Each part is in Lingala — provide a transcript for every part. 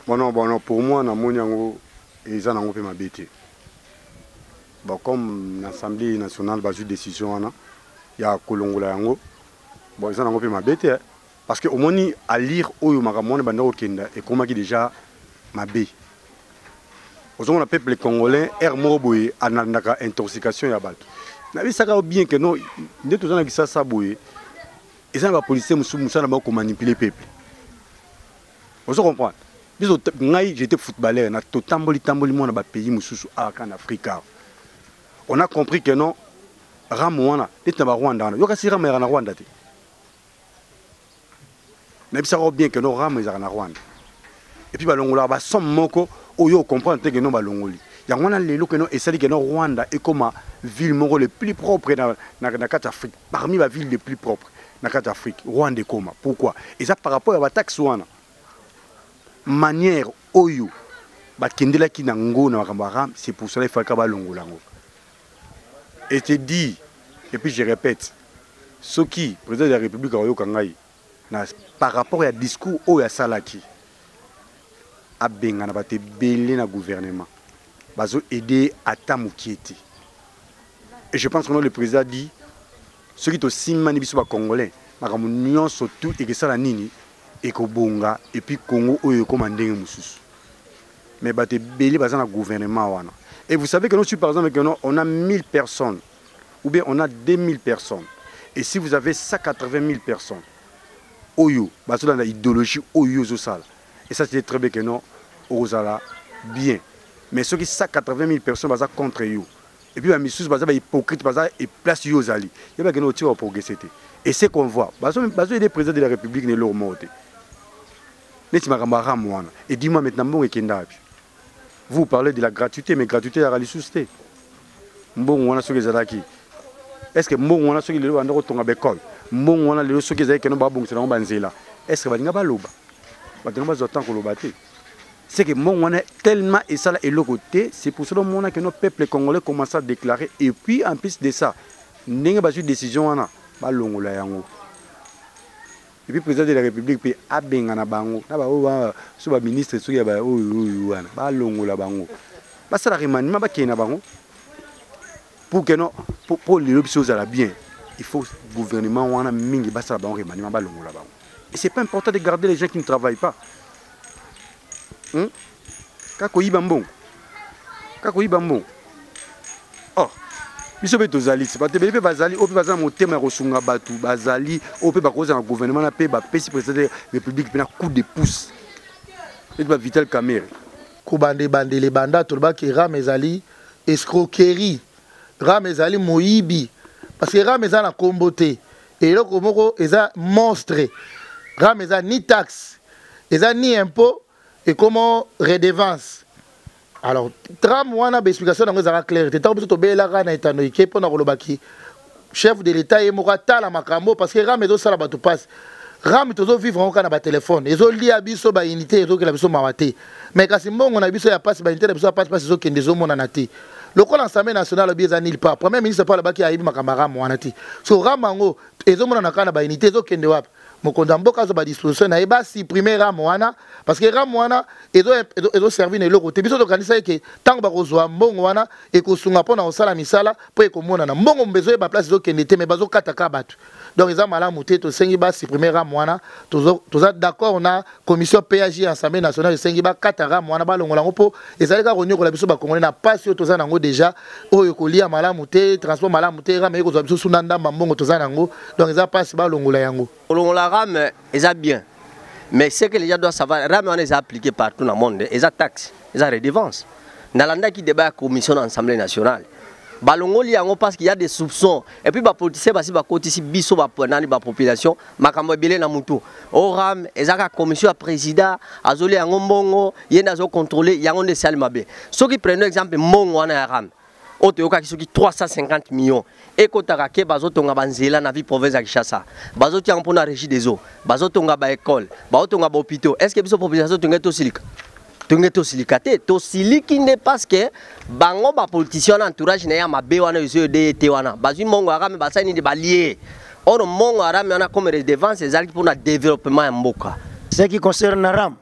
Wana wana pour moi na moni yango eza nango pe mabe te. Bon comme na Assemblée nationale bazui décision wana ya kolongola yango bon eza nango pe mabe te hein. parce que omoni à lire oyo makambo wana banda kokenda ekomaki déjà mabe ozomona peuple congolais aire moko boye analandaka intoxication ya bato nabisaka yo bien ke no nde toza na kisasa boye eza na bapolisie mosusu mosala na bango komanipule peuple ozo comprendre biso ngai j'étais footballeur na totamboli tamboli mwana ba pays mususu awa kan afrika on a compris que non ramo wana neti na barwanda wana yokasi ramo yaka na rwanda te nayebisaka bien que non ramo ezalaka na rwanda epuis balongolaka basomme moko oyo ocomprendre te que non balongoli yango wana lelo que non esali que non rwanda ekoma ville moko le plus propre na, na, na kati afrique Parmi ba villes les plus propres na kati ya Afrique, Rwanda ekoma. Pourquoi? Eza par rapport ya ba taxes wana. Manière oyo bakendelaki na ngo na makambo ya RAM, c'est pour cela il fallait balongola yango. Et te dis, et puis je répète, soki président de la République akoyoka ngai na par rapport ya discours oyo asalaki abengana bato ebele na gouvernement bazo aide ata mokie te et je pense que le président dit soki tosimbani biso bacongolais makambo nyonso tu ekesala nini ekobonga epuis congo oyo ekoma ndenge mosusu mais bato ebele baza na gouvernement wana et vous savez que non suis par exemple que non on a 1000 personnes ou bien on a 2000 personnes et si vous avez 180000 personnes oyo bazolanda idéologie oyo ozosala et ça c'est très bien que non okozala bien mais soki 180000 personnes baza contre yo et puis bamisusu baza bahypocrite baza place yo ozali yeba kende otika koprogresse te et ce qu'on voit bazoyede président de la république na eloko moko te neti makambo aramu wana et dis moi maintenant mbongo ekenda wapi Vous parlez de la gratuité, mais gratuité ya lisusu te. Mbongo wana soki ezalaki. Est-ce que mbongo wana soki lelo banda kotonga bekol? Mbongo wana lelo soki ezalaki keno babongisa nango banzela. Est-ce que balinga baloba? Bato yango bazwa temps koloba te. C'est que mbongo wana tellement esala eloko te, c'est pour cela mona que nos peuples congolais commence à déclarer et puis en plus de ça, ndenge bazwi décision wana balongola yango. et puis président de la république mpe abengana bango na baoyo wana so baministre soki ya baoyo oyo wana balongola bango basala remaniement bakei na bango pour que non mpo lelo biso ozala bien il faut gouvernement wana mingi basala bango remaniement balongola bango et c'est pas important de garder les gens qui ne travaillent pas hmm? kaka koyiba mbongo kaka koyiba mbongo oh biso mpe tozali te bato ebele mpe bazali oyo mpe baza na motema ya kosunga bato bazali oyo mpe bakozala na gouvernement na mpe bapesi président de république mpe na coup de pouce ete ba vital camere kobanda ebandeli ebanda tolobaki rame ezali escroquerie rame ezali moyibi parce que rame eza na nkombo te eloko moko eza monstre ram eza ni taxe eza ni impôt ekomo redevance alors tram wana baexplication yango ezalaka claire te ntango biso tobelelaka na etando ike mpo na koloba ki chef de l'état ye moko atala makambo parce que ram ezosala bato mpasi ram tozovivre yango kaka na batelefone ezolia biso baunité ezokela biso mawa te mais kasi mbongo na biso ya pasi baintere na biso ya pasi pasi ezokende ezomonana te lokola nsame national alobi eza nil part premier ministre mpo alobaki ayebi makambo ya rama wana te so rama yango ezomonana kaka na bainite ezokende wapi mokonzi ya mboka azwa badisposition na ye basupprime rame wana parce que rame wana ezoservi na eloko te biso tokanisaki ke ntango bakozwa mbongo wana ekosunga mpo na kosala misala mpo ekomonana mbongo mbezoyeba place ezokende te mai bazokatakaka bato donc eza malamu te tosengi ba supprimer ram wana toza d'accord na commission page ya assemblée nationale esengi bakata ram wana balongola yango mpo ezali kaka konyokola biso bakongole na mpasi oyo toza na yango déjà oyo kolia malamu te transport malamu te ram eye kozwa biso suna ndamba mbongo toza na yango donc eza mpasi balongola yango kolongola ram eza bien mais ce que les gens doivent savoir rame wana eza appliqué partout na monde eza taxe eza redevance nalandaki débat ya commission na assemblée nationale balongoli yango parce qu'il y a des soupçons et puis bapoliticien basi bakotisi biso baponani bapopulation makambo ebele na mutu oram eza kaka commission ya président azoli yango mbongo ye nde azocontrôle yango nde esali mabe soki prenons exemple mbongo wana ya rame oyo toyokaki soki 350 millions ekotaka ke bazotonga banzela na ville province ya kinshasa bazotia yango mpona régie des eaux bazotonga baekole baotonga bahopitaux est ce que biso population tonge tosilika tonge tosilika te tosiliki nde parce que bango bapoliticien wana entourage na ye ya mabe wana ezo yode ye te wana bazwi mbongo yakame basali nini balie or mbongo ya rame wana comme redevance ezalaki mpona développement ya mboka ce qui concerne rame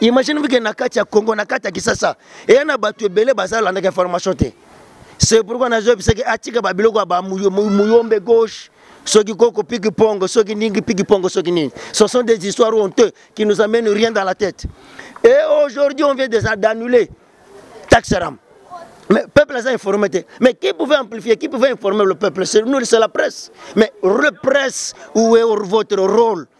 imagine vous que na kati ya congo na kati ya kisasa eya na bato ebele baza landaka information te c'est pourquoi nazobisaki atika babiloko ya bamuyombe gauche soki koko piki pongo soki ningi piki pongo soki nini ce sont des histoires honteux qui nous amènent rien dans la tête et aujourd'hui on vient déjà d'annuler taxeram mais le peuple est informé. Mais qui pouvait amplifier, qui pouvait informer le peuple C'est nous, c'est la presse. Mais represse, où est votre rôle